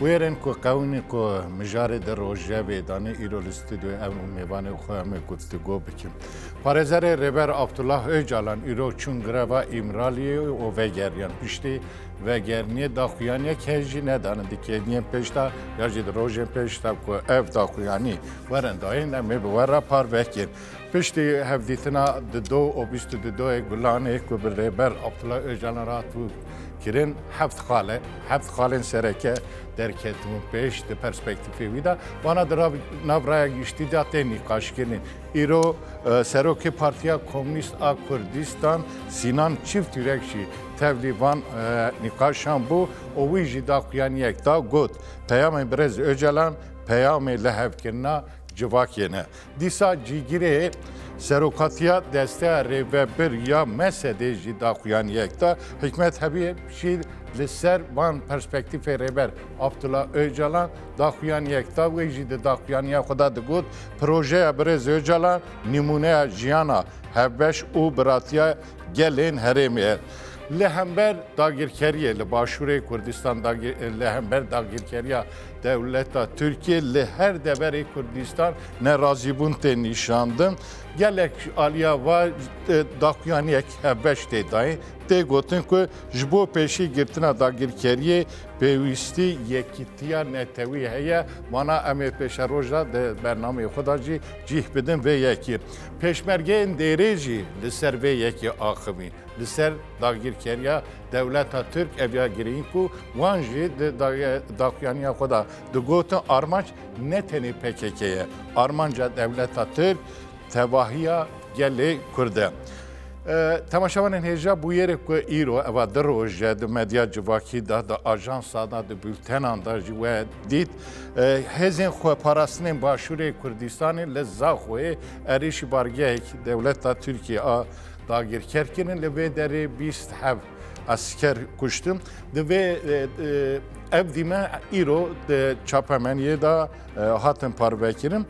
Bûyerên ku qewimî ku mijarê di rojevê danê îro li stûdyoyê em û mêvanê xwe em ê guftûgo bikin. Parêzerê Rêber Abdullah Ocalan îro çûn greva Îmraliyê û vegeriyan. Piştî vegeriniyê daxuyaniyek heye jî nedanin di kêdiyên pêş de ya jî di rojên pêş de ku ev daxuyanî werin dayîn em ê bi we re parve bikin. Piştî hevdîtina di do û bîst û du doyê gulanê ku bi Rêber Abdullah Ocalan re hatibû kirin heft xale, heft xalên sereke derketibûn pêş di perspektîfê wî de. Wana di nav raya giştî de tê nîqaşkirin. Îro Serokê Partiya Komnîst a Kurdistan Sînan Çîftîrek jî tevlî van nîqaşan bû û wî jî daxuyaniyek da got, Peyamên Birêz Ocalan peyamê lihevkirina civakê ne. Dîsa cîgirê serokatiya desteya rêvebir ya mesedê jî daxuyaniyek da hikmet hebiyê jî li ser van perspektîfê rêber Abdullah Öcalan daxuyaniyek da wê jî di daxuyaniya xwe da digot projeya birêz Öcalan nîmûneya jiyana hevbeş û biratiya gelên herêmê ye. Li hember dagirkeriyê li Başûrê Kurdistan li hember dagirkeriya Dewleta Tirkiyê li her deverê Kurdistan nerazîbûn tê nîşandin. Gelek aliya va daxuyaniyek hevbeş tê dayê tê gotin ku ji bo pêşî girtina dagirkeriyê pêwîstî yekîtiya netewî heye wana em ê pêşe roja di bernameyê xwe da jî cîh bidin vê yekî. Pêşmergeyên dêrê jî li ser vê yekî axivîn li ser dagirkeriya Dewleta Tirk ev ya girîng ku wan jî di daxuyaniya xwe de digotin armanc ne tenê PKK ye. Armanca dewleta Tirk tevahiya gelê Kurd e. Temaşevanên hêja bûyerê ku îro eva di roje di medya civakî de di ajansa de di bültenan de jî we dît hêzên xweparastinên başûrê Kurdistanê li Zaxoyê erêşî bargehek dewleta Tirkiye a Dagirker kirin li vê derê bîst hev esker kuştin. Di vê ev dîme îro çapemeniyê de hatin parvekirin.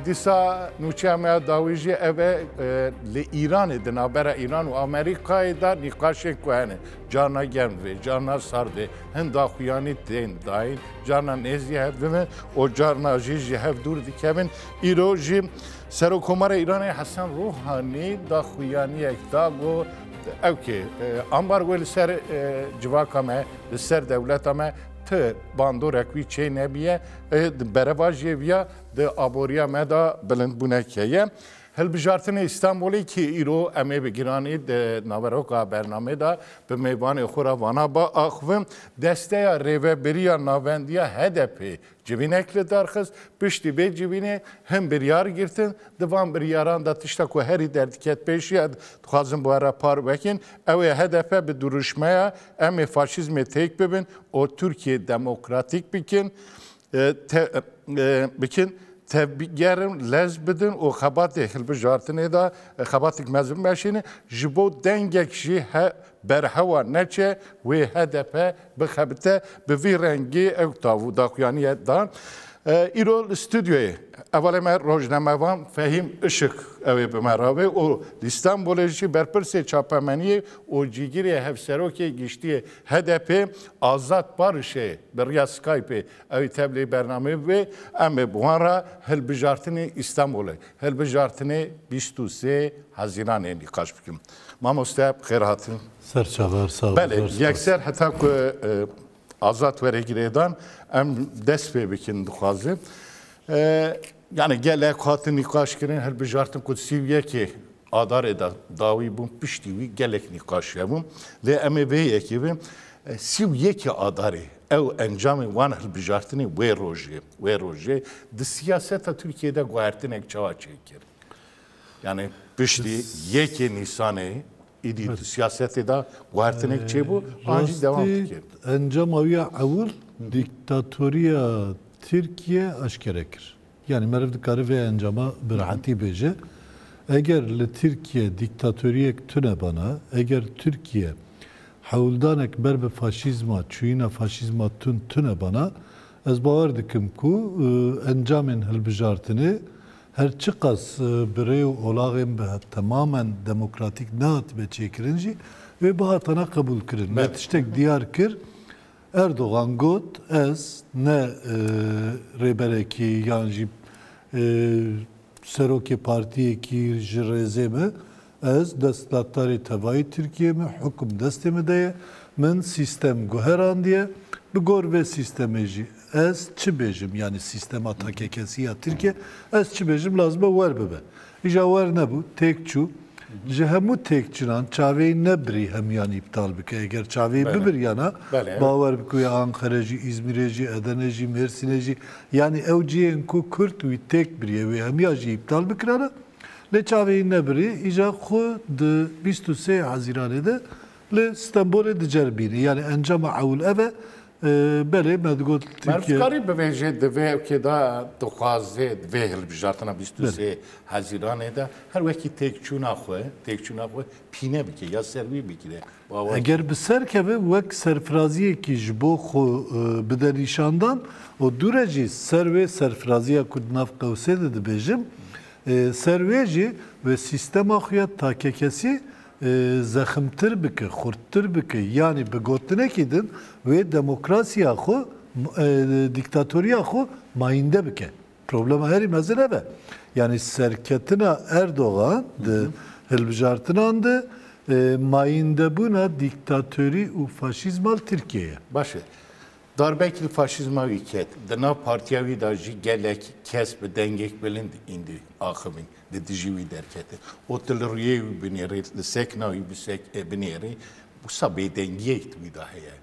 Dîsa nûçeya me ya dawî jî ev e li Îranê di navbera Îran û Amerîkayê de nîqaşên ku hene carna germ vê carna sar vê hin daxuyanî tên dayîn carna nêzî hev dibin û carna jî ji hev dûr dikevin îro jî Serokomara Îranê Hesen Ruhanî daxuyaniyek da got ew kê ambargoyê li ser civaka me li ser dewleta me ti bandorek wî çê nebîye di bereva jê viya di aboriya me da bilindbûnek heye. Hilbijartinê Îstanbulê kê îro em ê bi giranî di naveroka bernamê da bi mêvanê xwe re vana ba axivin, desteya rêveberiya navendiya HDP'ê Civînek li dar xist, piştî vê civînê hin biryar girtin, di van biryaran de tişta ku herî derdiket pêş ye, dixwazin bi we re par vekin, ew ê hedefe bi dirûşmeya em ê faşîzmê têk bibin û Tirkiyeyê demokratîk bikin, bikin, tevbigerin, lez bidin û xebatê hilbijartinê de xebatêk mezin meşînin, ji bo dengek jî berhewa neçe wê hedefe bixebite bi vî rengî ew tav û daxuyaniye da. Îro li stûdyoyê hevalê me rojnamevan Fehîm Işik ew ê bi me re be û li Stenbolê jî berpirsê çapemeniyê û cîgirê hevserokê giştiyê HDP'ê Azad Barişê bi riya Skype'ê ew ê tevlî bernameyê bibe. Em ê bi wan re hilbijartinê Stenbolê, hilbijartinê bîst û sê Hezîranê nîqaş bikin. Mamoste xêr hatin. Ser çaver sağ Belê, yekser heta ku azat were girêdan em dest pê bikin dixwazin. Yani gelek hatin nîqaş kirin hilbijartin ku sî û yekê adarê de dawî bûn piştî wî gelek nîqaş hebûn. Lê em ê vê yekê bin sî û yekê adarê ew encamê wan hilbijartinê wê rojê wê rojê di siyaseta Tirkiyeyê de guhertinek çawa çêkir? Yanî piştî yekê Nîsanê êdî di siyasetê de guhertinek çêbû an jî dewam dike. Encama wî ya ewil dîktatoriya Tirkiye eşkere kir. Yanî meriv dikare vê encama bi rehetî bêje. Eger li Tirkiye dîktatoriyek tune bana, eger Tirkiye hewldanek ber bi faşîzma, çûyîna faşîzma tund tune bana, ez bawer dikim ku encamên hilbijartinê Her çiqas bi rê û olaxên bi temamen demokratîk nehatibe çêkirin jî, wê bihatana qebûlkirin. Wê tiştek diyar kir, Erdogan got, Ez ne rêberekî yan jî serokê partiyekî ji rêzê me, Ez destdaktarê tevayê Tirkiyeyê me, hukum destê me de ye, min sîstem guherandiye, bi gor vê sîstemê jî ez çi bêjim, yanî sîstema takekesî ya Tirkiye, ez çi bêjim lazim e wer bibe. Îja wer nebû, têk çû. Ji hemû têkçinan çavêyî nebirî hemûyan îptal bike. Eger çavêyî bibiryana, bawer bike wê Anqere jî, Îzmîrê jî, Edenê jî, Mêrsînê jî, yanî ew cihên ku Kurd wî têk biriye, wê hemûyan jî îptal bikirane. Lê çavê nebirî îja xwe di bîst û sê Hezîranê de li Stenbolê dicer bînî. Yanî encama ewil ev e. Belê me digot Tirkiye. Merivkarî bivêje di vê evkê de dixwaze di vê hilbijartina bîst û sê Hezîranê de her wekî têkçûna xwe, têkçûna xwe pîne bike ya ser wî bigire. Eger bi ser keve wek serfiraziyekî ji bo xwe bide nîşandan û dû re jî ser wê serfiraziya ku di nav qewsê de dibêjim ser wê jî wê sîstema xwe ya takekesî zeximtir bike, xurttir bike yanî bi gotinekî din wê demokrasiya xwe, dîktatoriya xwe mayînde bike. Problema herî mezin ev e. Yanî serketina Erdogan di hilbijartinan de mayîndebûna dîktatorî û faşîzma li Tirkiyeyê ye. Baş e. Darbek li faşîzma wî ket. Di nav partiya wî de jî gelek kes bi dengek bilind îndî axivîn di dijî wî derketin. Û tu li rûyê wî binêrî, li sekna wî binêrî, wisa bêdengiyek di wî de heye.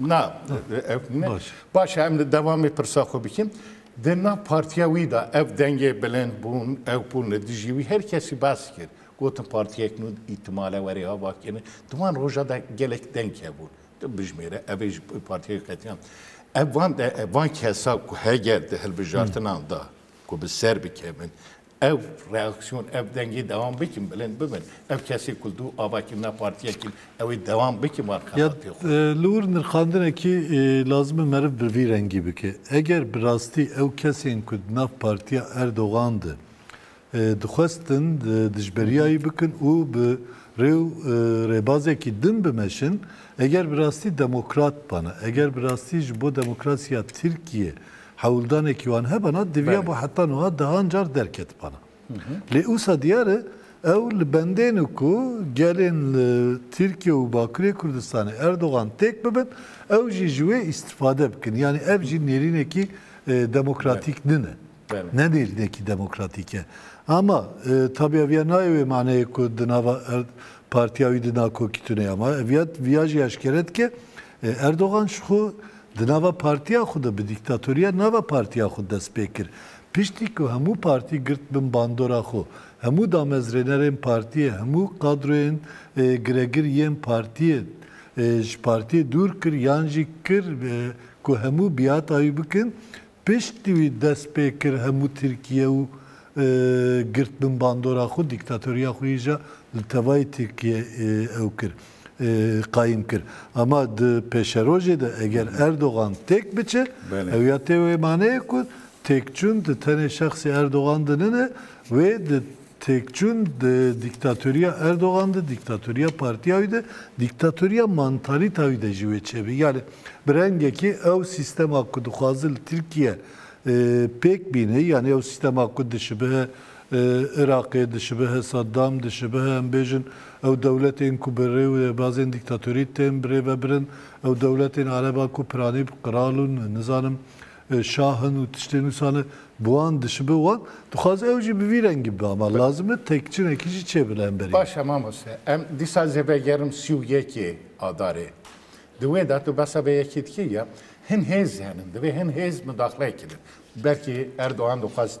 Na baş em li devamê pirsa xwe bikin. Di nav partiya wî de ev dengê bilind bûn, ew bûn li dijî wî her kesî bas kir. Gotin partiyek nû îtimale werê hava kirin. Di wan roja de gelek deng hebûn. Tu bijmêre evê ji partiyê qetiyan. Ev van de van kesa ku heger di hilbijartinan da ku bi ser bikevin Ev reaksiyon, ev dengê dewam bikin, bilind bibin. Ev kesê ku li dû avakirina partiyê kir, ew ê dewam bikin van xelatê xwe. Ya li wir nirxandinekî lazim e meriv bi vî rengî bike. Eger bi rastî ew kesên ku di nav partiya Erdogan de dixwestin dijberiyayî bikin û bi rê û rêbazekî din bimeşin, eger bi rastî demokrat bana, eger bi rastî ji bo demokrasiya Tirkiyê Hewldanekî wan hebe na divya bo heta nuha dehan car derketibana. Lê usa diyar e ew li bendên û ku gelên li Tirkiye û Bakurê Kurdistanê Erdogan têk bibin ew jî ji wê îstîfade bikin. Yanî ev jî nêrînekî demokratîk nine. Ne nêrînekî demokratîk e. Ama tabî ev ya nayê wê maneyê ku di nava partiya wî de nakokî tune ye. Ama ev ya viya jî eşkere dike Erdogan ji xwe di nava partiya xwe de bi dîktatoriya nava partiya xwe dest pê kir. Piştî ku hemû partî girt bin bandora xwe, hemû damezrênerên partiyê, hemû kadroyên giregir yên partiyê ji partiyê dûr kir yan jî kir ku hemû biata wî bikin. Piştî wî dest pê kir hemû Tirkiye û girt bin bandora xwe, dîktatoriya xwe yî jî li tevayî Tirkiye ew kir. qayîm kir. Ama di pêşerojê de eger Erdogan têk biçe, ew ya tê wê maneyê ku têkçûn di tenê şexsê Erdogan de nine, wê di têkçûn di dîktatoriya Erdogan de, dîktatoriya partiya wî de, dîktatoriya mantalîta wî de jî wê çêbî. Yanî bi rengekî ew sîstema ku dixwaze li Tirkiye pêk bîne, yanî ew sîstema ku dişibihe Iraqê dişibihe, Saddam dişibihe, em bêjin ew dewletên ku bi rêwebazên dîktatorî tên birêvebirin, ew dewletên ereban ku piranî bi qral û nizanim şah in û tiştên wisa ne, bi wan dişibe wan dixwaze ew jî bi vî rengî bibe. Ama lazim e têkçinekî jî çêbe li hemberî wê. Baş e mamoste. Em dîsa zê vegerim sî û yekê Adarê. Di wê de tu behsa vê yekê dikî ya, hin hêz henin, divê hin hêz mudaxileyekî bin. Belkî Erdogan dixwest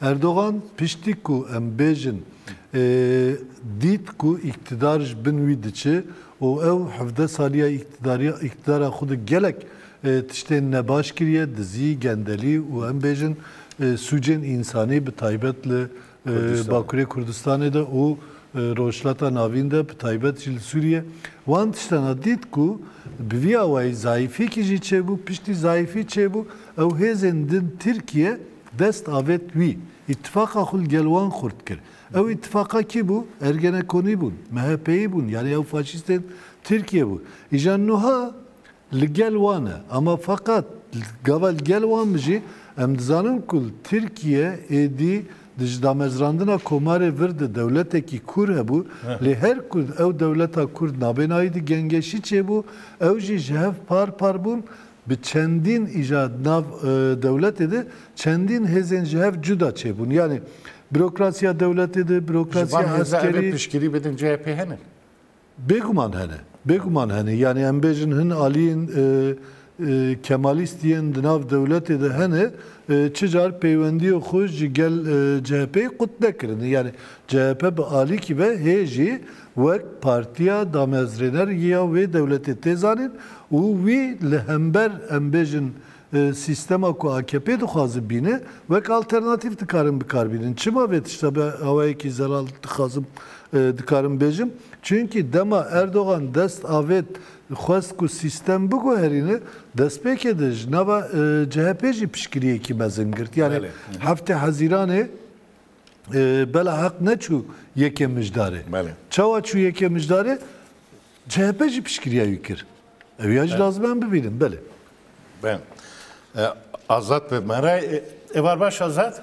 Erdogan piştî ku em bêjin dît ku îktidar ji bin wî diçe û ew hevdeh saliya îktidara xwe di gelek tiştên nebaş kiriye, dizî, gendelî û em bêjin sûcên însanî bi taybet li Bakurê Kurdistanê de û Rojhilata Navîn de bi taybet jî li Sûriye wan tiştan hat dît ku bi vî awayî zayîfiyekî jî çêbû, piştî zayîfî çêbû ew hêzên din Tirkiye Dest avêt wî. Îtîfaqa xwe li gel wan xurt kir. Ew îtîfaqa kî bû? Ergenekonî bûn, MHPyî bûn, yanî ew faşîstên Tirkiyê bûn. Îjan nuha li gel wan e. Ama feqat gava li gel wan bijî, em dizanin ku li Tirkiye êdî di ji damezrandina komarê vir de dewletekî kûr hebû, lê her ku ew dewleta kûr nabênayî di gengeşî çêbû, ew jî ji hev par par bûn, Bi çendîn îja nav dewletê de çendîn hêzên ji hev cuda çêbûn. Yanî bürokrasiya dewletê de, bürokrasiya eskerî. Ji van hêza ev ê piştgirî bidin CHP'ê hene? Bêguman hene. Bêguman hene. Yanî em bêjin hin aliyên Kemalîst yên di nav dewletê de hene çi car peywendiyê xwe ji gel CHP'ê qut nekirine. Yanî CHP bi alîkî ve hê jî wek partiya damezrêner ya wê dewletê tê zanîn û wî li hember em bêjin sîstema ku akp dixwaze bîne wek alternatîf dikarin bikar bînin. Çima vê tişta bi awayekî zelal dixwazim dikarim bêjim? Çunkî dema Erdogan dest avêt xwest ku sîstem biguherîne destpêkê de ji nava chp jî piştgiriyekî mezin girt. Yanî heftê hezîranê. Bela heq neçû yekê mijdarê. Belê. Çawa çû yekê mijdarê? CHP jî piştgiriya wî kir. Ew ya jî lazim e em bibînin. Belê. Ben. E, Azad bi me re e, e var baş Azad?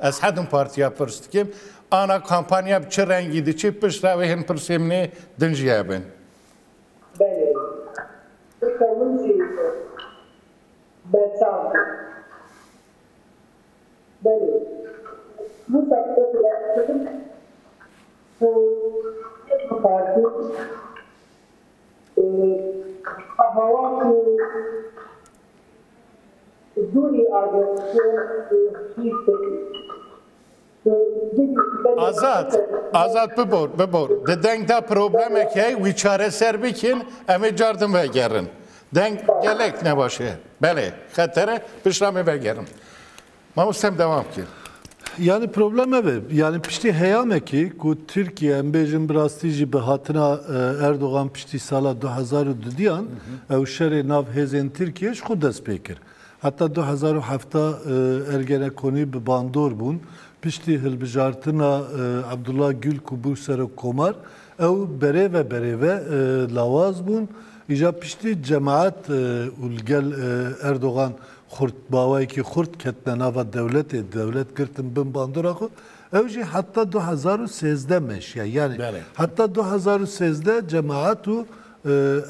Ez hedim partiya pirs dikim, ana kampanya bi çi rengî diçe pişt re wê hin pirsê min ê din jî hebin. Belê. Tu qewim jî îşo berçav bî. Belê. Mûsa bi xwe direng kir ku hedim partî ê bi hewa ku. Azad, Azad bibor, bibor. Di deng de problemek heye wî çareser bikin, em ê car din vegerin. Deng gelek ne baş e. Belê, xeter e, pişta me vegerin. Mamo sem devam bike. Yanî problem ev e. Yanî piştî heyamekî ku Tirkiye em bêjin bi rastî jî bi hatina Erdogan piştî sala du hezar û dudiyan ew şerê nav hêzên Tirkiyê ji xwe dest pê kir. Heta du hezar û hefta Ergenekonî bi bandor bûn. Piştî hilbijartina Abdullah Gül ku bû serokkomar ew berêve berêve lawaz bûn. Îja piştî cemaet û li gel Erdogan Xurt, bawayekî xurt ketine nava dewletê, dewlet girtin bin bandora xwe, ew jî heta du hezar û sêzdeh meşiya. Yanî heta du hezar û sêzdeh cemaet û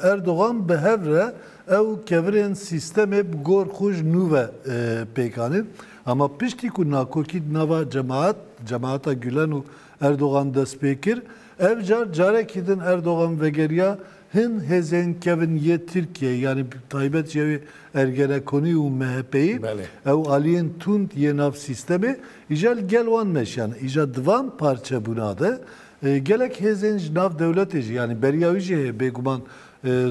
Erdogan bi hev re ew kevirên sîstemê bi gor xwe ji nû ve pêk anîn. Ama piştî ku nakokî di nava cemaet, cemaeta Gulen û Erdogan dest pê kir, ev car carekî din Erdogan vegeriya Hin hêzên kevn yê Tirkiyeyê yanî bi taybet jî ew ê Ergenekonî û MHPyî ew aliyên tund yê nav sîstemê îja li gel wan meşiyane. Îja di van parçebûna de gelek hêzên ji nav dewletê jî yanî beriya wî jî heye bêguman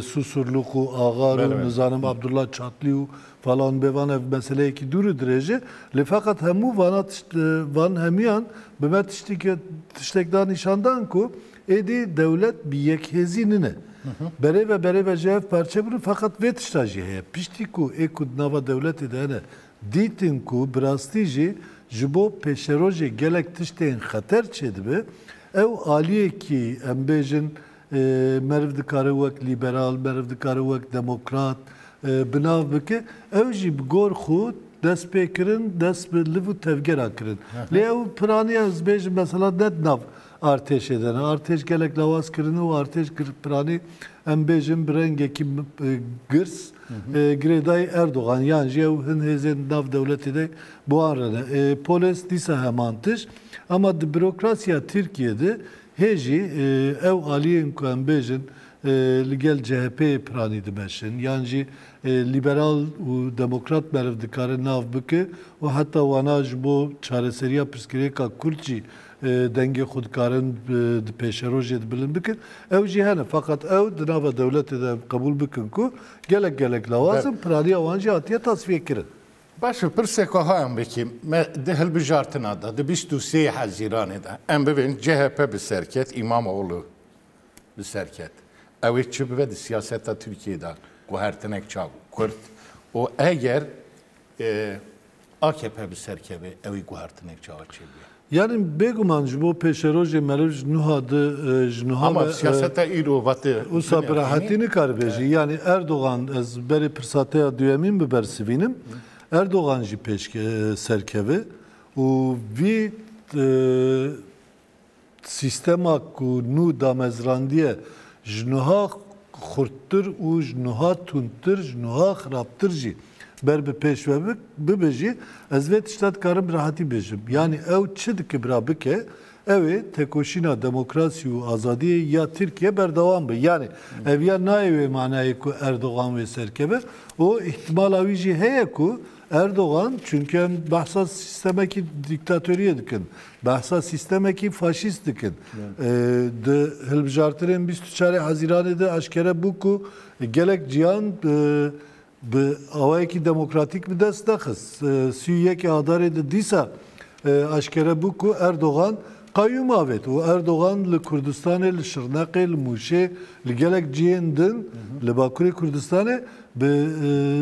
Susurluk û Axar û nizanim Abdullah Çatlî û falan bê van ev meseleyekî dûr û dirêj e lê feqet hemû vana tişt van hemûyan bi me tiştî tiştek da nîşandan ku Êdî dewlet bi yekhêzî nine. Berêve berêve jî ev parçe bûne feqet vê tişta jî heye. Piştî ku ê ku di nava dewletê de hene dîtin ku bi rastî jî ji bo pêşerojê gelek tiştên xeter çêdibe ew aliyekî em bêjin meriv dikare wek lîberal, meriv dikare wek demokrat bi nav bike ew jî bi gor xwe dest pê kirin, dest bi liv û tevgeran kirin. Lê ew piraniya ez dibêjim mesela ne di nav Artêşê de ne. Artêş gelek lawaz kirine û artêş piranî em bêjin bi rengekî girs girêdayî Erdogan yan jî ew hin hêzên di nav dewletê de bi wan re ne. Polês dîsa heman tişt. Ema di bürokrasiya Tirkiyê de hê jî ew aliyên ku em bêjin li gel CHP'ê piranî dimeşin yan jî lîberal û demokrat meriv dikare nav bike û heta wana ji bo çareseriya pirsgirêka kurd jî dengê xwe dikarin di pêşerojê de bilind bikin, ew jî hene feqet ew di nava dewletê de qebûl bikin ku gelek gelek lawaz in, piraniya wan jî hatiye tasfîyekirin. Baş e, pirsek wiha em bikîm, me di hilbijartina de, di bîst û sê Hezîranê de em bibin chp bi ser ket, Îmamoglû bi ser ket, ew ê çi bibe di siyaseta Tirkiyeyê de guhertinek çav û kurt û eger AKP bi ser keve ewî guhertinek çawa çêbûye? Yanî bêguman ji bo pêşerojê meriv ji nuha di ji nuha Ama ve siyaseta îro vate wisa bi binêrînî. rehetî nikare bêjî. Yanî Erdogan ez berê pirsateya duyemîn bibersivînim. Erdogan jî pêşke serkeve û vî Sîstema ku nû damezrandiye ji nuha xurttir û ji nuha tundtir, ji nuha xirabtir jî ber bi pêş ve bibe jî ez vê tişta dikarim bi rehatî bêjim. Yanî ew çi dikibra bike ew ê tekoşîna demokrasî û azadiyê ya Tirkiye berdewam be. Yanî ev ya nayê wê manayê ku Erdogan wê ser keve û îhtimala wî jî heye ku Erdogan, çunke em behsa sîstemekî dîktatoriyê dikin, behsa sîstemekî faşîst dikin. Di hilbijartinên bîst û çarê Hezîranê de eşkere bû ku gelek cihan bi awayekî demokratîk bi dest nexist. Sî û yekê Adarê de dîsa Aşkere bû ku Erdogan qayûm avêt û Erdogan li Kurdistanê, li Şirneqê, li Mûşê, li gelek cihên din li Bakurê Kurdistanê bi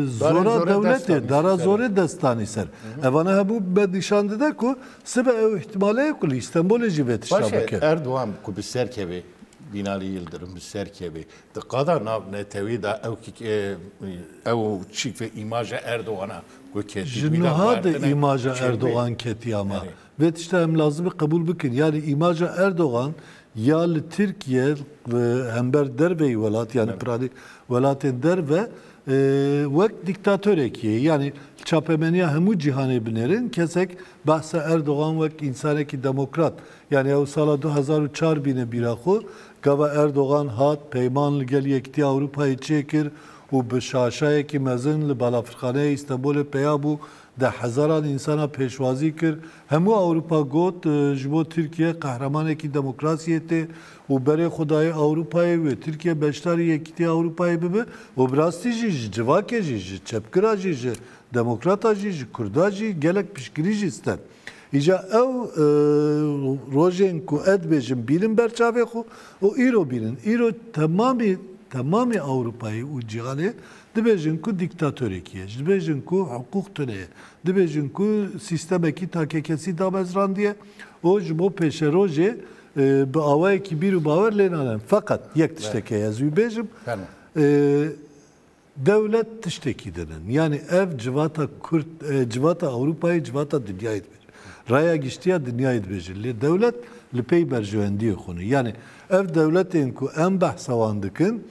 zora dewletê, dara zorê dest danî ser. Evane hebû me nîşan dide ku sibe ew îhtîmale ye ku li Îstenbolê jî vê tişta bike. Baş e, Erdogan ku bi ser keve, Bînalî Yildirim bi ser keve, di qada nav netewê de ew ew çîk ve îmaja Erdogan a Ji niha de îmaja Erdogan ketiya me. Vê tişta em lazim e qebûl bikin. Yanî îmaja Erdogan ya li Tirkiye hember derveyî welat yanî piranî welatên derve wek dîktatorekî ye. Yanî li çapemeniya hemû cîhanê binêrin kesek behsa Erdogan wek însanekî demokrat yanî ew sala du hezar û çar bîne bîra xwe gava Erdogan hat peyman li gel Yekîtiya Ewropayê çêkir û bi şaşayekî mezin li Balafirxaneya Îstenbolê peya bû, deh hezaran însanan pêşwazî kir. Hemû Ewropa got, ji bo Tirkiye qehremanekî demokrasiyê tê û berê xwe daye Ewropayê wê Tirkiye beşdarî Yekîtiya Ewropayê bibe û bi rastî jî ji civakê jî, ji çepgira jî, ji demokrata jî, ji kurda jî gelek piştgirî jî stend. Îca ew rojên ku ez dibêjim bînin ber çavê xwe û îro bînin. Îro temamî temamî Ewropayê û cîhanê dibêjin ku dîktatorekî ye, ji dibêjin ku hiqûq tune ye, dibêjin ku sîstemekî takekesî damezrandiye û ji bo pêşerojê bi awayekî bîr û bawer lê nane. Feqet yek tiştekê ez wî bêjim. Dewlet tiştekî dinin. Yanî ev civata Kurd, civata Ewropayê, civata dinyayê dibêjin. Raya giştiya dinyayê dibêjin. Lê dewlet li pey berjewendiyên xwe ne. Yanî ev dewletên ku em behsa wan dikin,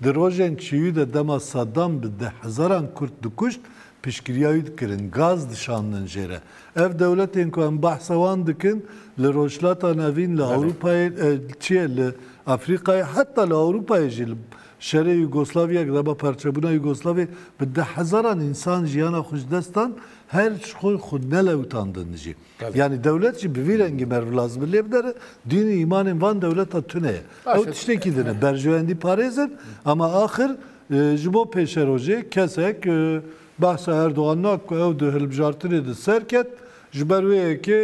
di rojên çiyû de dema Saddam bi deh hezaran Kurd dikuşt, piştgiriya wî dikirin, gaz dişandin jê re. Ev dewletên ku em behsa wan dikin, li Rojhilata Navîn, li Ewropayê, çiyê li Efrîkayê, heta li Ewropayê jî, li Şerê Yûgoslavyayê ku reba parçebûna Yûgoslavyayê bi deh hezaran însan jiyana xwe ji dest dan, her ji xwe xwe nelewitandin jî. Yanî dewlet jî bi vî rengî meriv lazim e lê bidere dîn û îmanên van dewleta tune ye. Ew tiştekî din e. Berjewendî parêz in ama axir ji bo pêşerojê kesek behsa Erdogan nake ku ew di hilbijartinê de serket ji ber wê ye ku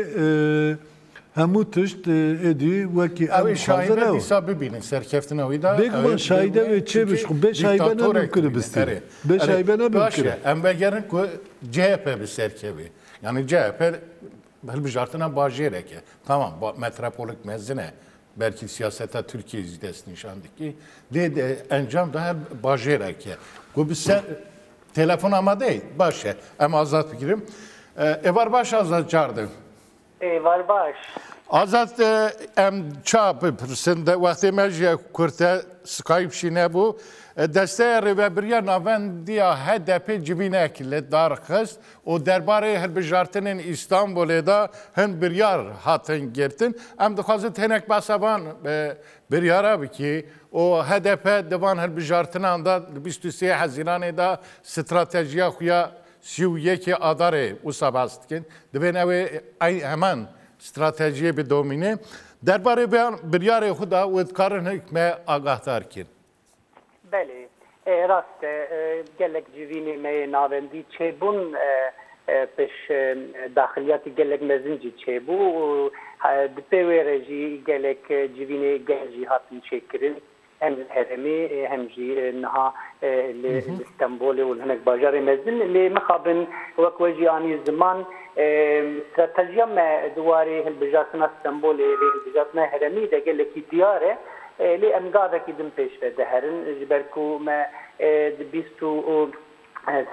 Hemû tişt êdî wekî em dixwazin ew. Dîsa bibînin serkeftina wî da. Bêguman şahîde wê çê bi xwe bêşahîbe ne bi kiribistî. Bêşahîbe ne bi kiribistî. Baş e em vegerin ku CHP bi ser kevê. Yani CHP hilbijartina bajêrek e. Tamam metropolik mezin e. Belkî siyaseta Tirkiyê jî dest nîşan dikî. Dê de encam da her bajêrek e. Ku bi ser telefon amade baş e. Em azad bigirim. Evar baş azad cardin. Êvar baş. Azad em ça bipirsin de wextê me ji kurte Skype jî nebû. Desteya Rêvebiriya Navendiya HDP'ê civînek li dar xist û derbarê hilbijartinên Îstanbulê de hin biryar hatin girtin. Em dixwazin tênek behsa van biryara bikî û HDP di van hilbijartinan de di bîst û sê Hezîranê de stratejiya xwe ya Sî û yekê Adarê wisa behs dikin, divên ew ê eyn heman stratejiyê bidomîne. Derbarê vê biryarê xwe de wê dikarin hik me agahdar kin. Belê, rast e, gelek civînê me yê navendî çêbûn, pêş daxiliyatî gelek mezin jî çêbû û di pê wê re jî gelek civînê gel jî hatin çêkirin. hem li herêmê hem jî niha li Stenbolê û li hinek bajarên mezin lê mixabin wek we jî anî ziman stratejiya me di warê hilbijartina Stenbolê lê hilbijartina herêmî de gelekî diyar e lê em gavekî din pêşve diherin ji ber ku me di bîst û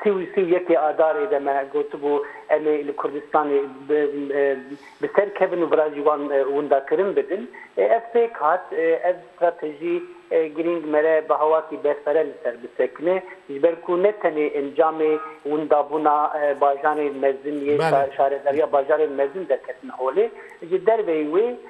Sî û sî û yekê Adarê de me gotibû em ê li Kurdistanê bi ser kevin û virajî wan winda kirin bidin. Ev pêk hat. Ev stratejî girîng me re bi hawatî berfere li ser bisekine ji ber ku ne tenê encamê windabûna bajarên mezin yê şaredariya bajarên mezin derketin holê. Ji derveyî wê,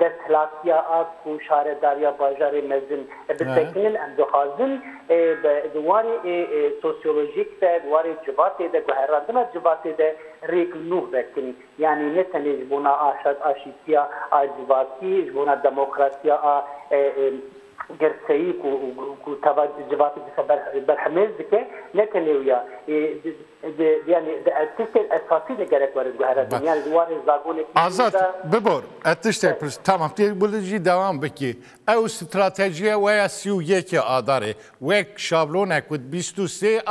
Desthilatîya Ak û Şaredariya Bajarê Mezin bi sekinin em dixwazin di warê sosyolojîk de, di warê civatê de, guherandina civatê de rêk li nû vekin. Yanî ne tenê ji bona aşîtiya a civatî, ji bona demokrasiya a girseyî ku teva civatê dixe berhemêz dike, ne tenê wiya. Yanî di ev tiştên esasî de gerek werin guherandin. Yanî di warê zagonê pîşûyî de. Azad, bibor, ez tiştek pirsim. Tamam, tu bi li jî dewam bikî. Ew stratejiya we ya sî û yekê Adarê, wek şablonek ku di bîst û sê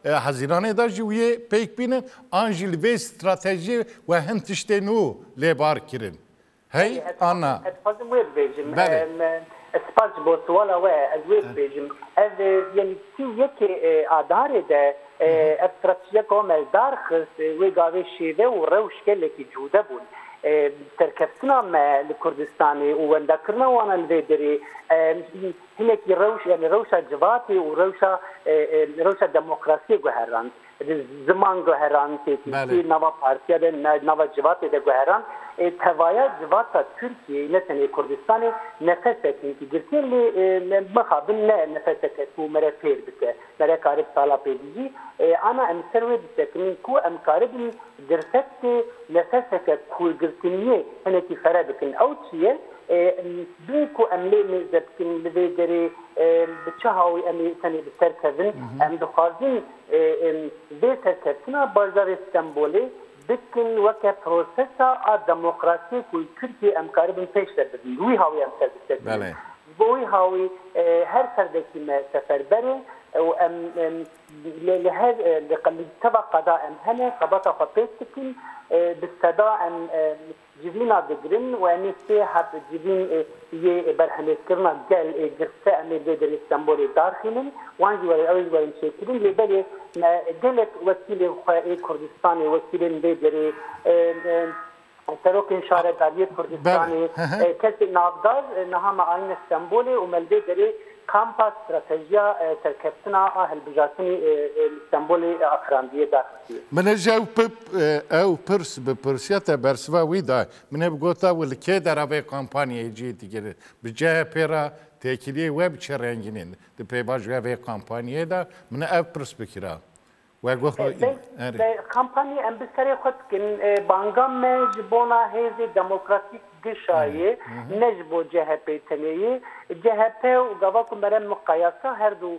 Hezîranê de jî wê pêk bînin, an jî li vê stratejiyê we hin tiştên nû lê bar kirin. Hey Belê ez Anna. Ez dixwazim wê bibêjim. Belê. Spas ji bo siwala we. Ez wê bibêjim. Ev yanî sî yekê Adarê de ev stratejiya Komel dar xist wê gavê şêve û rewş gelekî cude bûn. Serkeftina me li Kurdistanê û wendakirina wan li vê derê hinekî rewş yanî rewşa civatê û rewşa rewşa demokrasiyê guherand. Ziman guheran tê tîskî nava partiya de nava civatê de guheran ê tevaya civata Tirkiyeyê ne tenê Kurdistanê nefesek hêkî girtî lê me mixabin ne nefeseke ku me re fêr bike me re karib sala pêdijî ana em li ser wê bisekinin ku em karibin dirsekdê nefeseke kurgirtiniyê hinekî fere bikin ew çi ye bin ku em lê mêze bikin li vê derê bi çi hawî em ê tenê bi ser kevin em dixwazin Em vê serkeftina bajarê Stenbolê bikin weke prosesa a demokrasiyê ku li Tirkiyeyê em karibin pêş ve birin. Bi wî hawî em ser bi ser tînin. Ji bo wî hawî her ferdekî me seferber e û em lê li her li teva qada em hene xebata xwe pêk dikin. Bi seda em Civîna digirin û em ê sê heb civîn yê berhemêzkirina gel ê girse em ê li Derê Stenbolê darxînin, wan jî were ew ê ji werin çêkirin lê belê me gelek wekîlên xwe ê Kurdistanê, wekîlên vê derê, serokên şaredariyê Kurdistanê, kesên navdar niha me ayîne Stenbolê û me li vê derê kampa stratejiya serkeftina a hilbijartinê li Stenbolê afirandiye dar. Min ji ew pip ew pirs bi pirsiya te bersiva wî da. Min hê bigota û li kê dera vê kampanyayê cihê digire. Bi CHP'ê re têkiliyê we bi çi rengînê di pêvajoya vê kampanyayê de? Min ev pirs bikira. We got xwe î. Erê. Bi kampanyê em bi serê xwe dikin. Banga me ji bona hêzê demokratîk GŞA yê, ne ji bo CHP'ê tenê yê. CHP û gava ku mere miqayasa her du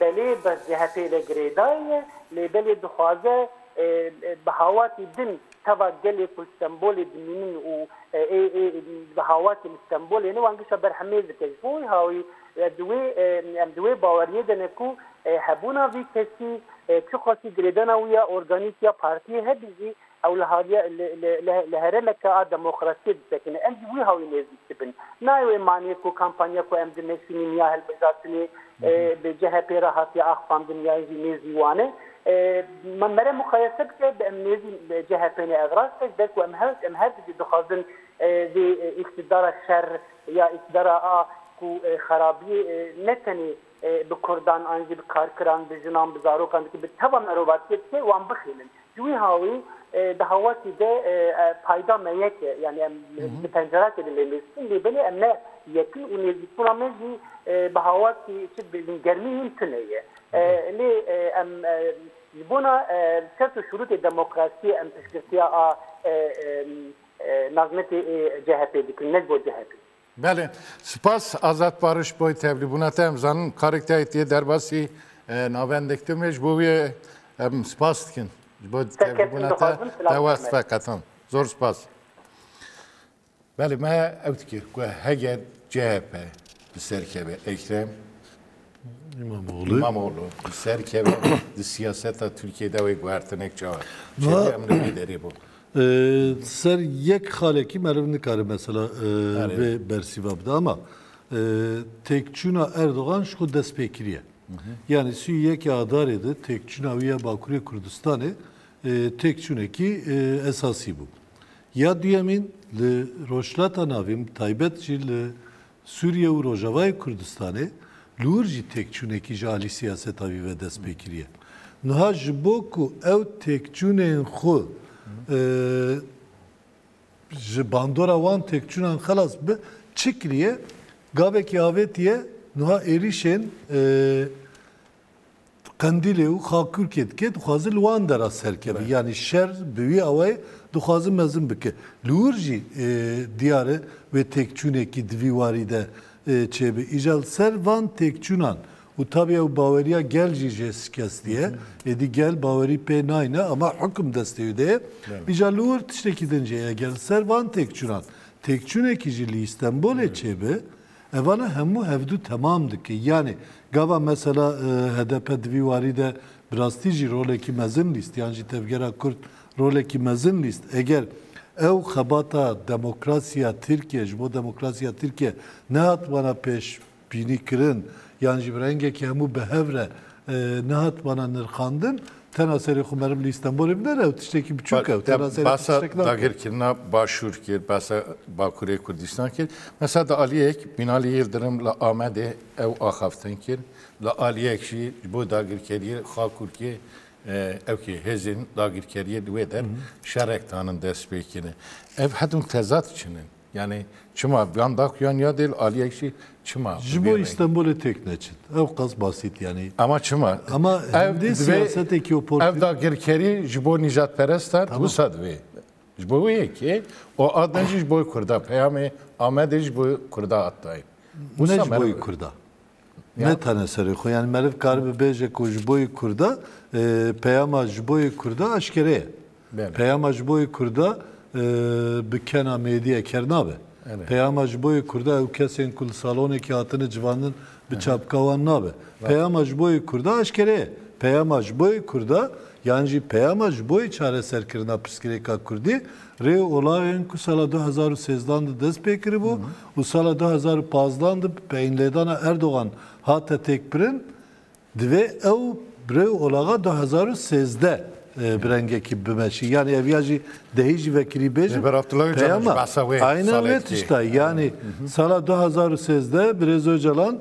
Belê bi CHP'ê ve girêdayî ye, lê belê dixwaze bi hawatî din teva gelê ku li Stenbolê dimînin û ê ê bi hawatî li Stenbolê ne wan gişta ber hemêz dike. Ji bo wî hawî ez di wê em di wê baweriyê de ne ku hebûna vî kesî çiqasî girêdana wî ya organîk ya partiyê hebî jî Ew li haliye li herêmeke a demokrasiyê disekine. Em jî wî hawî nêzîk dibin. Nayê wê manê ku kampanya ku em di Mêrsînîn ya hilbijartinê bi CHP'ê re hatiye axfandin ya jî nêzî wan e. Mere muqayese bike bi em nêzî CHP'ê ne. Ev rast e ji ber ku em em her di jî dixwazin vê îktidara şer ya îktidara a ku xerabiyê ne tenê bi kurdan an jî bi karkiran, bi jinan, bi zarokan dike, bi teva merovatiyê dike wan bixêlin. Ji wî hawî di hawatî de payda me yek e. Yanî em di pencerakê de lê mêz dikin lê belê em ne yek in û nêzîkbûna me jî bi hawatî çi dibêjin germî hîn tune ye. Lê em ji bona şert û şurûtê demokrasiyê em piştgirtiya a nazmetê CHP'ê dikin ne ji bo CHP'ê. Belê, sipas Azad Pariş boy tevlîbûna te em zanin karek te yê tê derbasî navendek tim ê ji bo wê em sipas dikin ji bo tevlîbûna te te west veqetan. Zor sipas. Belê me ew dikir ku hege CHP bi serkeve Ekrem İmamoğlu. İmamoğlu. Ser keve di siyaseta Türkiye'de ve guhertinek çawa. Çevi em ne derê bu. Ser yek xalekî meriv nikare mesela vê bersîva bide ama têkçûna Erdogan ji xwe destpêkiriye. Yani sî yekê adarê de têkçûna wî ya Bakurê Kurdistanê têkçûnekî esasî bû. Ya duyemîn li rojhilata navîn taybet jî li Sûriye û Rojavayê Kurdistanê li wir jî têkçûnekî ji alî siyaseta wî ve dest pê kiriye. Niha ji bo ku ew têkçûnên xwe ji bandora wan têkçûnan xelas bibe çi kiriye? Gavekî avêtiye niha êrîşên Qendîlê û Xakurkê dike, dixwaze li wan dera serkeve. Yanî şer bi wî awayê dixwaze mezin bike. Li wir jî diyar e wê têkçûnekî di vî warî de çêbe. Îja li ser van têkçûnan û tabî ew baweriya gel jî jê şikestî ye. Êdî gel bawerî pê nayne ama hukm destê wî de ye. Îja li wir tiştekî din jî heye. Eger li ser van têkçûnan têkçûnekî jî li Îstenbolê çêbe, Evane hemû hevdu temam dike. Yanî gava mesela hdp di vî warî de bi rastî jî rolekî mezin lîst yan jî Tevgera Kurd rolekî mezin lîst eger ew xebata demokrasiya Tirkiye ji bo demokrasiya Tirkiye nehatibana pêşbînîkirin yan jî bi rengekî hemû bi hev re nehatibana nirxandin Tena serê xwe meriv li Stenbolê bide re ew tiştekî biçûk e. Tena serê Basa dagirkirina başûr kir, basa Bakurê Kurdistan kir. Mesela di aliyek Binali Yildirim li Amedê ew axaftin kir. Li aliyek jî ji bo dagirkeriyê Xakurkê ew kê hêzên dagirkeriyê li wê der şerek danin dest pê kirin. Ev hedûn tezat çin in. Yanî çima van daxuyan ya dêl aliyek jî çima? Ji bo Îstenbolê têk neçin. Ew qas basît yanî. Ema çima? Ema hindê siyasetekî û portî. Ev dagirkerî ji bo nîjadperestan wisa divê. Ji bo wê yekê û adin jî ji bo Kurda peyamê Amedê ji bo Kurda hat dayîn. Wisa ji bo Kurda. Ne tene serê xwe yani meriv karibe bêje ku ji bo yê Kurda peyama ji bo yê Kurda eşkere ye. Peyama ji bo yê Kurda bi kena mêdîye ker nabe. Peyama ji bo yê Kurda ew kesên ku li salonekî hatine civandin bi çapka wan nabe. Peyama ji bo yê Kurda eşkere ye. Peyama ji bo yê Kurda yan jî peyama ji bo yê çareserkirina pirsgirêka Kurdî rê û olaxên ku sala du hezar û sêzdan de dest pê kiribû û sala du hezar û pazdeh de bi peyînlêdana Erdogan hate têkbirin, divê ew bi rê olaxa du hezar û sêzdeh bi rengekî bimeşî. Yanî ev ya jî dehî jî vekirî bêjin. Rêber Abdullah Ocalan jî behsa wê salê dikê. Aynen wê tişta ye. Yanî sala du hezar û sêzdeh birêz Ocalan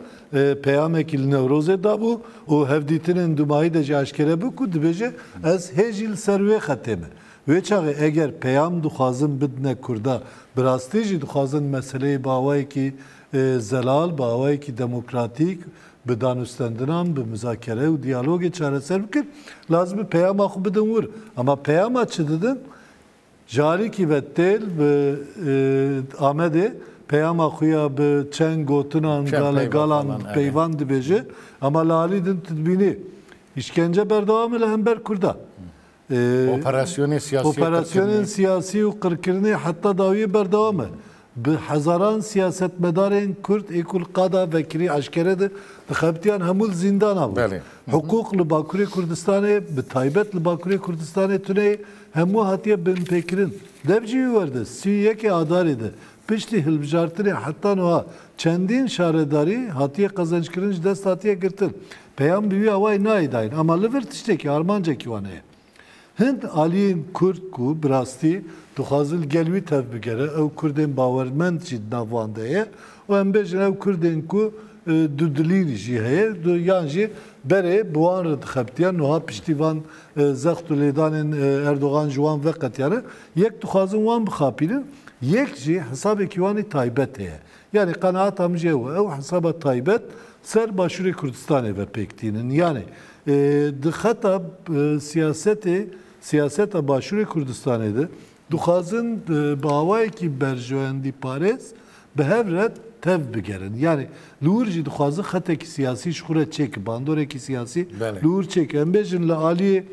peyamekî li Newrozê dabû û hevdîtinên dûmahî de jî eşkere bû ku dibêje ez hê jî li ser wê xetê me. Wê çaxê eger peyam dixwazin bidine Kurda, bi rastî jî dixwazin meseleyê bi awayekî zelal, bi awayekî demokratîk, bi danûstendinan, bi muzakere û diyalogê çareser bikin, lazim e peyama xwe bidin wir. Ama peyama çi didin? Ji alîkî ve têl bi Amedê peyama xwe ya bi çend gotinan, galegalan peyvan dibêje, ama li alî din tu dibînî îşkence berdewam e li hember Kurdan. Operasyonên siyasî Operasyonên siyasî û qirkirinê heta dawiyê berdewam e. Bi hezaran siyasetmedarên Kurd ê ku li qada vekirî eşkere di dixebitiyan hemû li zîndana bûn. Hiqûq li Bakurê Kurdistanê bi taybet li Bakurê Kurdistanê tuneyê hemû hatiye binpêkirin. Dev jî wî werde sî û yekê adarê de Piştî hilbijartinê heta nuha çendîn şaredarî hatiye qezenckirin ji dest hatiye girtin. Peyam bi wî awayî nayê dayîn ama li vir tiştekî armancekî wan heye. Hind aliyên kurd ku bi rastî dixwazin li gel wî tev bigere ew kurdên bawermend jî di nav wan de ye û em bêjin ew kurdên ku dudilî jî heye yan jî berê bi wan re dixebitiye nuha piştî van zext û lêdanên Erdogan ji wan veqetiyane. Yek dixwazin wan bixapînin, yek jî hesabekî wanî taybet heye. Yanî qenaata min jî ew e. Ew hesaba taybet ser Başûrê Kurdistanê ve pêk tînin. Yanî di xeta siyasetê, siyaseta Başûrê Kurdistanê de Dixwazin bi awayekî berjewendîparêz bi hev re tev bigerin. Yanî li wir jî dixwazin xetekî siyasî ji xwe re çêkin, bandorekî siyasî li wir çêkin. Em bêjin li aliyê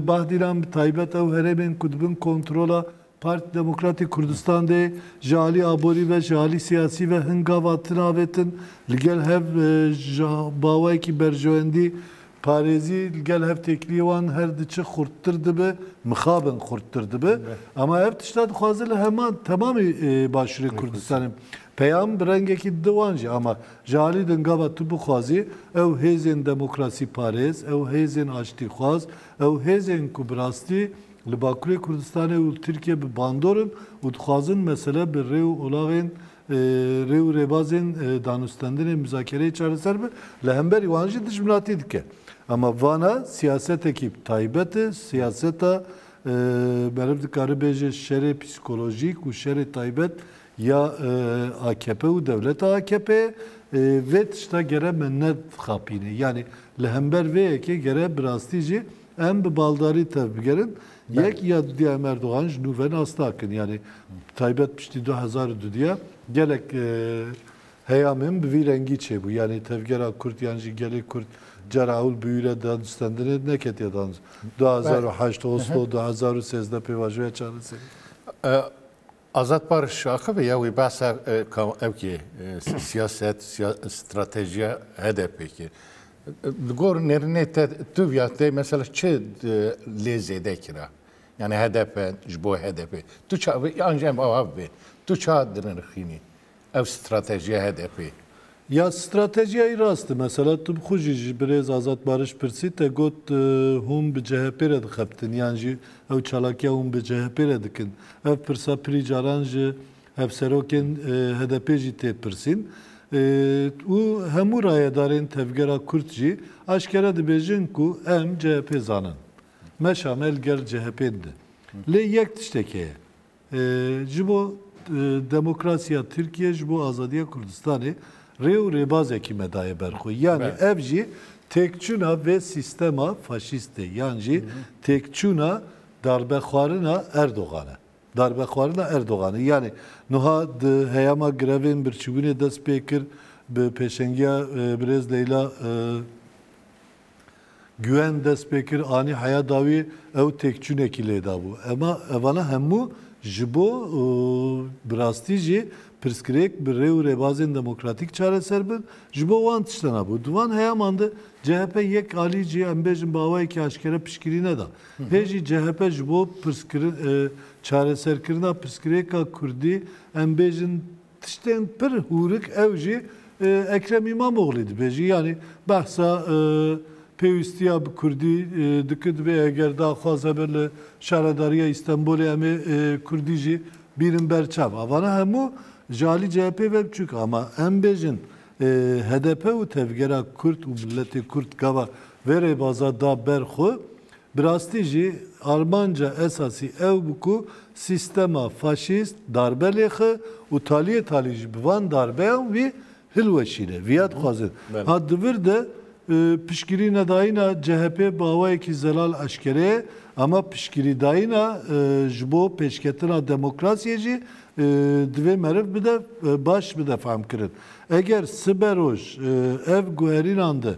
Bahdîran bi taybet ew herêmên ku di bin kontrola Partî Demokratîk Kurdistan de ye ji alî aborî ve, ji alî siyasî ve hin gava tinavêtin. Li gel hev ji awayekî berjewendî Parêzî li gel hev têkiliyê wan her di çi xurttir dibe, mixabin xurttir dibe. Ama hev tişta dixwaze li heman temamê Başûrê Kurdistanê peyam bi rengekî dide wan jî. Ama ji alî din gava tu bixwazî ew hêzên demokrasîparêz, ew hêzên aştîxwaz, ew hêzên ku bi rastî li Bakurê Kurdistanê û li Tirkiye bi bandor in û dixwazin mesele bi rê û olaxên rê û rêbazên danûstendinê mizakereyê çareser bi, li hemberî wan jî dijminatî dike. Ama vana siyasetekî taybet e, siyaseta meriv dikare bêje şerê psîkolojîk û şerê taybet ya akp û dewleta akp'ê ye. Vê tişta gere me nedixapîne. Yanî li hember vê yekê gere bi rastî jî Em bi baldarî tevbigerin. Yek ya dudya em Erdogan ji nû ve nas nakin. Yanî taybet piştî du hezar û dudya gelek heyamên bi vî rengî çêbû. Yanî tevgera Kurd yan jî gelê Kurd cara ewil bi wî re danûstendinê neketiye danûst. Du hezar û heşt Oslo, du hezar û sêzdeh pêvajoya çareserî. Azad Pariş ji axivê ya wê behsa ka ew kê siyaset, stratejiya HDP'ê kê. Di gor nêrînê te tu viya te mesela çi lê zêde kira? Yanî HDP ji bo HDP'ê. Tu çi an jî em ava bibê. Tu çi hat dinirxînî? Ev stratejiya HDP'ê ya stratejiyayî rast e. Mesela tu bi xwe jî ji birêz Azad Bariş pirsî te got hûn bi CHP'ê re dixebtin yan jî ew çalakiya hûn bi CHP'ê re dikin. Ev pirsa pirî caran ji hevserokên HDP'ê jî tê pirsîn û hemû rayedarên tevgera kurd jî aşkere dibêjin ku em CHP'ê zanin. Meşa me li gel CHP'ê dide. Lê yek tiştek heye. Ji bo demokrasiya Tirkiyê, ji bo azadiya Kurdistanê rê û rêbazekî me daye ber xwe. Yanî ev jî têkçûna vê sîstema faşîstê yan jî têkçûna darbexwarina Erdogan e. Darbexwarina Erdogan e. Yanî nuha di heyama grevên birçîbûnê dest pê kir bi pêşengiya birêz Leyla Guwen dest pê kir, anî heya dawî ew têkçûnekî lê dabû. Ema evana hemû ji bo bi rastî jî pirsgirêk bi rê û rêbazên demokratîk çareser bin, ji bo wan tişta nabû. Di van heyaman de chp yek alî jî em bêjin bi awayekî eşkere piştgirî neda. Hê jî chp ji bo çareserkirina pirsgirêka kurdî em bêjin Tiştên pir hûrik ew jî Ekrem Îmamoglî dibêjî yanî behsa pêwîstiya bi kurdî dikir dibê eger daxwaz hebe li Şaredariya Îstenbolê em ê kurdî jî bîrin ber çav. A vana hemû ji alî CHP'ê ve biçûk e ama em bêjin hdp û tevgera kurd û miletê kurd gava vê rêbaza da ber xwe Bi rastî jî armanca esasî ew bû ku sîstema faşîst darbe lêxe û taliyê talî jî bi van darbeyan wî hilweşîne. Vîya dixwazin. Ha di vir de piştgirînedayîna CHP'ê bi awayekî zelal eşkere ye, ama piştgirîdayîna ji bo pêşketina demokrasiyê jî divê meriv bide baş bide fehmkirin. Eger sibe roj ev guherînan de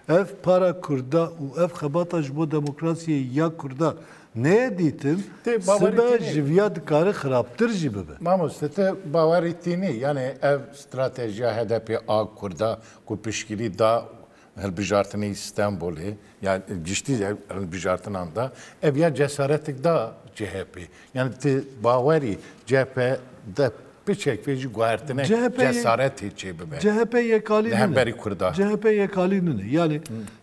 ev para Kurda û ev xebata ji bo demokrasiyê ya Kurda neyê dîtin, sibe ji viya dikare xirabtir jî bibe. Mamoste ti bawerî tînî yanê ev stratejiya HDP'ê a Kurda ku piştgirî da Hilbijartinê yê Stenbolê ya giştî hilbijartinan de ev ya cesaretik da CHP'ê. Yani ti bawerî CHP de piçek vê jî guhertinek cesaretê çêbibe. CHP yekalî nine. Li hemberî Kurda. CHP yekalî nine. Yani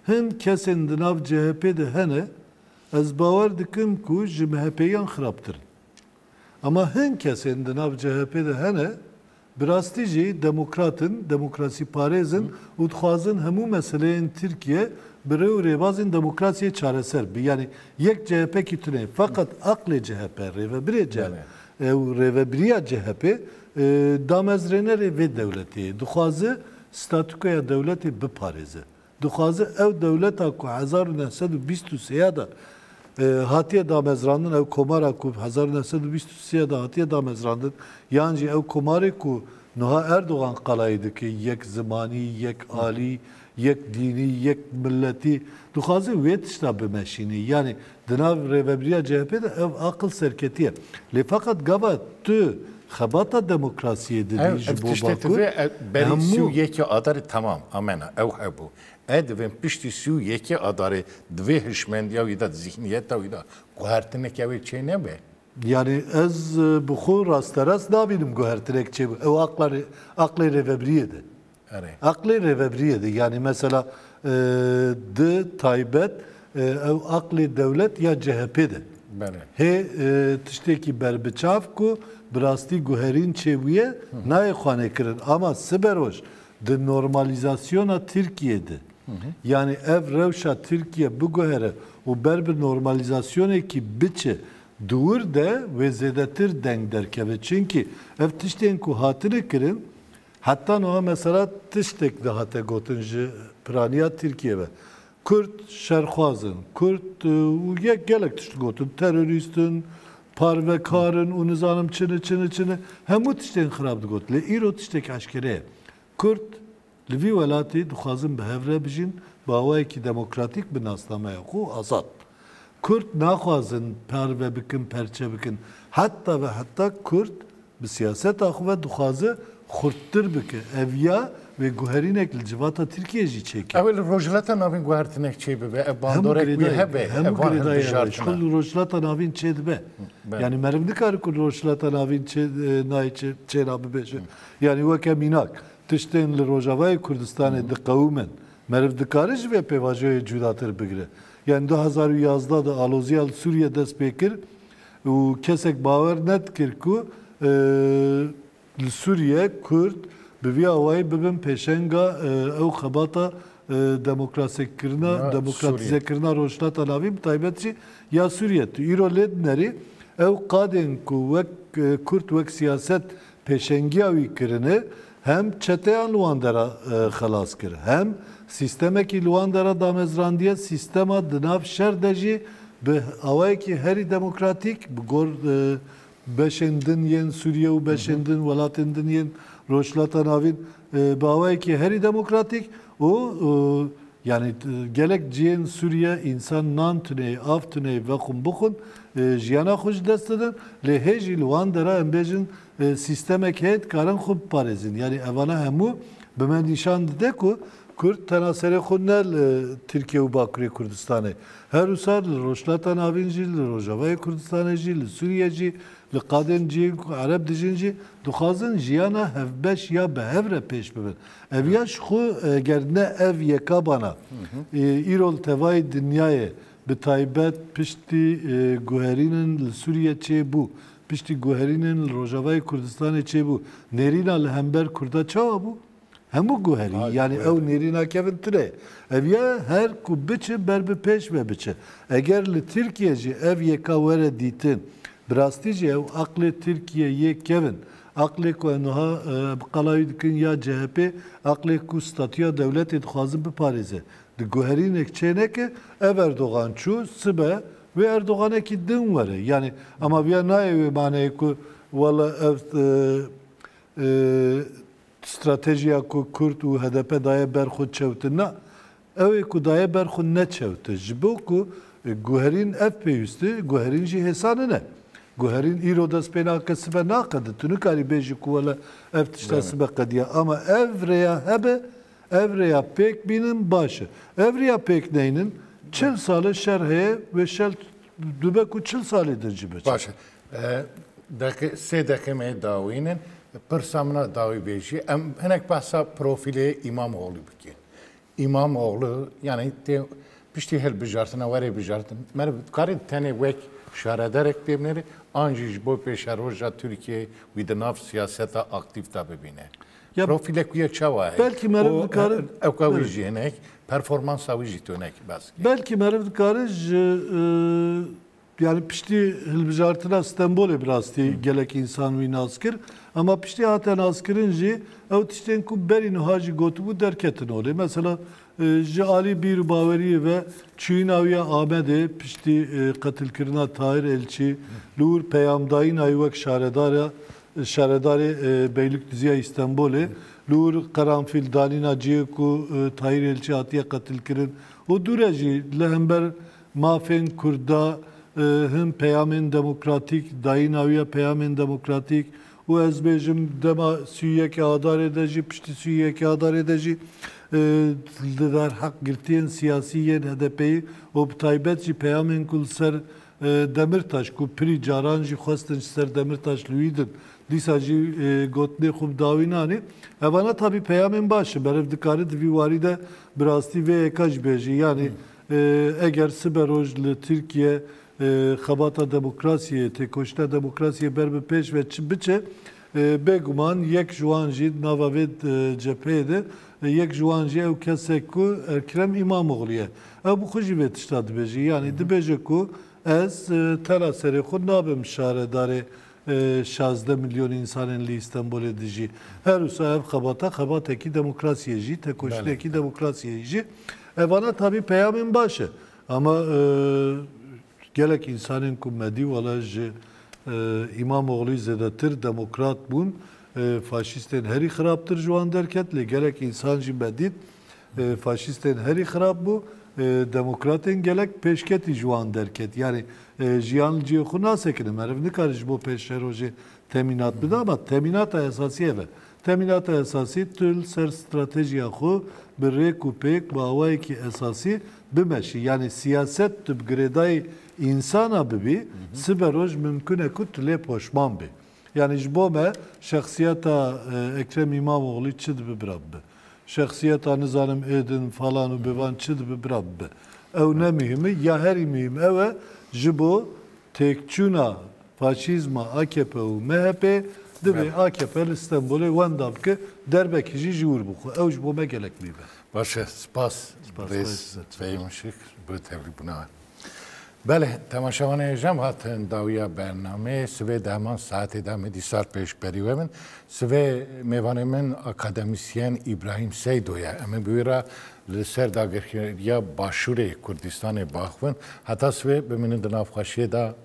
hin kesên di nav CHP'ê de hene ez bawer dikim ku ji MHP'yan xirabtir in. Ema hin kesên di nav CHP'ê de hene Bi rastî jî demokrat in, demokrasîparêz in û dixwazin hemû meseleyên Tirkiye bi rê û rêbazên demokrasiyê çareser bibe. Yanî yek CHPkî tuneyê. Feqet aqlê CHP, rêvebirê CHP û rêvebiriya CHPê damezrênerê vê dewletê ye. Dixwaze statûkoya dewletê biparêze. Dixwaze ew dewleta ku hezar û neh sed û bîst û sê de hatiye damezrandin, ew komara ku hezar û neh sed û bîst û sê de hatiye damezrandin yan jî ew komarê ku nuha Erdogan qalayî dike yek zimanî, yek alî, yek dînî, yek miletî dixwaze wê tişta bimeşînê. Yanî Di nav rêvebiriya CHP'ê de ev aqil serketiye. Lê feqet gava tu xebata demokrasiyê didî Ev ji ev bo tiştê Bakur, divê e, berî sî û hemû yekê Adarê temam amena ew hebû. E divên piştî sî û yekê Adarê di vê hişmendiya wî de, di zîhniyeta wî de guhertineke wê çê nebe. Yanî ez bi xwe rasterast nabînim guhertinek çêbû. Ew aqla rê aqlê rêvebiriyê de. Aqlê rêvebriyê de yanî mesela di taybet ew aqlê dewlet ya CHP'ê de hê tiştêkî ber bi çav ku bi rastî guherîn çê bûye nayê xwanekirin ama siberoj di normalîzasyona Tirkiyeyê de yanî ev rewşa Tirkiye biguhere û ber bi normalîzasyonekî biçe dûr de wê zêdetir deng derkeve. Çimkî ev tiştên ku hatine kirin Heta nuha mesela tiştek dihate gotin ji piraniya Tirkiyê ve. Kurd şerxwaz in, Kurd û yek gelek tişt gotin, terorîst in, parvekar in û nizanim çi ne çi ne çi ne. Hemû tiştên xirab digot. Lê îro tiştek eşkere ye. Kurd li vî welatî dixwazin bi hev re bijîn, bi awayekî demokratîk bi nasnameya xwe û azad. Kurd naxwazin parve bikin, perçe bikin. Heta ve heta Kurd Bi siyaseta xwe ve dixwaze xurttir bike. Ev ya wê guherînek li civata Tirkiyeyê jî çêke. Ew ê li Rojhilata Navîn guhertinek çêbibe, ev bandorek wê hebe, ev van hilbijartin e. Ji ku li Rojhilata Navîn çêdibe. Yanî meriv nikare ku li Rojhilata Navîn çê nayê çê çêna bibêje. Yanî weke mînak, tiştên li Rojavayê Kurdistanê diqewimin. Meriv dikare ji vê pêvajoyê cudatir bigire. Yanî du hezar û yazdeh de aloziya li Sûriyê dest pê kir, Û kesek bawer nedikir ku li Sûriye Kurd bi vî awayî bibin pêşenga ew xebata demokrasekirina demokratîzekirina Rojhilata Navîn bi taybet jî ya Sûriye. Tu îro lê dinerî ew qadên ku wek Kurd wek siyaset pêşengiya wî kirine Hem çeteyan li wan dera xelas kir, hem sîstemekî li wan dera damezrandiye, sîstema di nav şer de jî bi awayekî herî demokratîk bi gor beşên din yên Sûriye û beşên din welatên din yên Rojhilata Navîn bi awayekî herî demokratîk û yanî gelek cihên Sûriye însan nan tuneyê, av tuneyê vexwin bixwin jiyana xwe ji dest didin lê hê jî li wan dera em bêjin Sîstemek heye dikarin xwe biparêzin. Yanî evana hemû bi me nîşan dide ku kurd tena serê xwe ne li Tirkiye û Bakurê Kurdistanê, her wisa li Rojhilata Navîn jî, li Rojavayê Kurdistanê jî, li Sûriye jî, li qadên cihên ku ereb dijîn jî dixwazin jiyana hevbeş ya bi hev re pêş bibin. Ev ya ji xwe eger ne ev yeka bana îro li tevayê dinyayê bi taybet piştî guherînin li Sûriye çê bû. Piştî guherînên li Rojavayê Kurdistanê çêbû, nêrîna li hember Kurda çawa bû? Hemû guherî, yanî ew nêrîna kevin tune ye. Ev ya her ku biçe ber bi pêş ve biçe. Eger li Tirkiye jî ev yeka were dîtin, bi rastî jî ew aqlê Tirkiye yê kevin, aqlê ku ew niha bi qala wî dikin ya CHP'ê, aqlê ku statûya dewletê dixwazin biparêze, Di guherînek çêneke ev Erdogan çû sibe wê Erdoganekî din were. Yanî ema viya nayê wê maneyê ku wela ev stratejiya ku Kurd û hdp daye ber xwe çewti na. Ew ê ku daye ber xwe neçewti. Ji bo ku guherîn ev pêwîsti, guherîn jî hêsa nine. Guherîn îro dest pê nake sibe naqede. Tu nikarî bêjî ku wela ev tişta sibe qediya. Ema ev rêya hebe Ev rêya pêk bînin baş e. Ev rêya pêk neynin çil sal e şer heye wê şel dûbe ku çil salê din jî biçe. Baş e. Deqê sê deqê me dawîn in. Pirsa min a dawî bêjî em hinek behsa profîlê Îmamoglû bikên. Îmamoglû yanî tê piştî hilbijartina werê bijartin. Me re dikarî tenê wek şarederek pê binêrê an jî ji bo pêşeroja Tirkiyeyê wî di nav siyaseta aktîf de bibîne. Ya Profîlek wî ye çawa ye? Belkî meriv dikare Ewka wî jî hinek, performansa wî jî tunek bes bike. Belkî meriv dikare ji yanî piştî hilbijartina Stenbolê bi rastî gelek însan wî nas kir. Ema piştî hate naskirin jî ew tiştên ku berî nuha jî gotibû derketin holê. Mesela ji alî bîr û baweriyê ve çûyîna wî ya Amedê piştî qetilkirina Tahir Elçî li wir peyamdayîna wî wek şaredar ya Şaredarê Beylîkduzî ya Îstenbolê li wir Qeranfîl danîna cihê ku Tahîr Elçî hatiye qetilkirin û dû re jî li hember mafên Kurd da hin peyamên demokratîk dayîna wî ya peyamên demokratîk û ez bêjim dema sî û yekê Adarê de jî piştî sî û yekê Adarê de jî li derheq girtiyên siyasî yên HDPyî û bi taybet jî peyamên ku li ser Demirtaş ku pirî caran jî xwestin ji ser Demirtaş li wî din, dîsa jî gotinê xwe bi dawî nanê. Evana tabî peyamên baş in, meriv dikare di vî warî de bi rastî vê yeka jî bêje. Yanî eger sibe roj li Tirkiye xebata demokrasiyê, têkoşîna demokrasiyê ber bi pêş ve biçe, Bê guman yek ji wan jî di nava vê cepheyê de yek ji wan jî ew kes e ku Ekrem Îmamoglû ye. Ew bi xwe jî vê tişta dibêje. Yanî dibêje ku ez tera serê xwe nabim şaredarê şazdeh milyon însanên li Îstenbolê dijî. Her wisa ev xebata xebatekî demokrasiyê jî, tekoşînekî demokrasiyê jî. Evana tabî peyamên baş e. Ama Gelek însanên ku me dî wala ji Îmamoglûyî zêdetir demokrat bûn. Faşîstên herî xirabtir ji wan derket lê gelek însan jî me dît faşîstên herî xirab bû. Demokratên gelek pêşketî ji wan derket. Yanî jiyan li cihê xwe nasekine. Meriv nikare ji bo pêşerojê temînat bide ama temînata esasî ev e. Temînata esasî tu li ser stratejiya xwe bi rêk û pêk bi awayekî esasî bimeşî yanî siyaset tu bi girêdayî însana bibî sibe roj mimkun e ku tu lê poşman bî. Yanî ji bo me şexsiyeta Ekrem Îmamoglî çi dibi bira bibe. Şexsiyeta nizanim Êdin falan û bevan çi dibi bira bibe. Ew ne muhîm e ya herî muhîm ew e ji bo têkçûna Faşîzma akp û MHP'ê divê akp li Stenbolê wenda bike derbekî jî ji wir bixwe. Ew ji bo me gelek mî be. Baş e, spas birêz Fehîm Işık bi tevlîbûna we. Belê, temaşevanê êjem hatin dawiya bernamê. Sivê di heman saetê de me dîsar pêşberî we bin. Sivê mêvanê min akademîsyen Îbrahîm Seydo ye. Em ê bi wî re li ser dagirkeriya Başûrê Kurdîstanê biaxivin. Heta sivê bimînin di navxweşiyê de.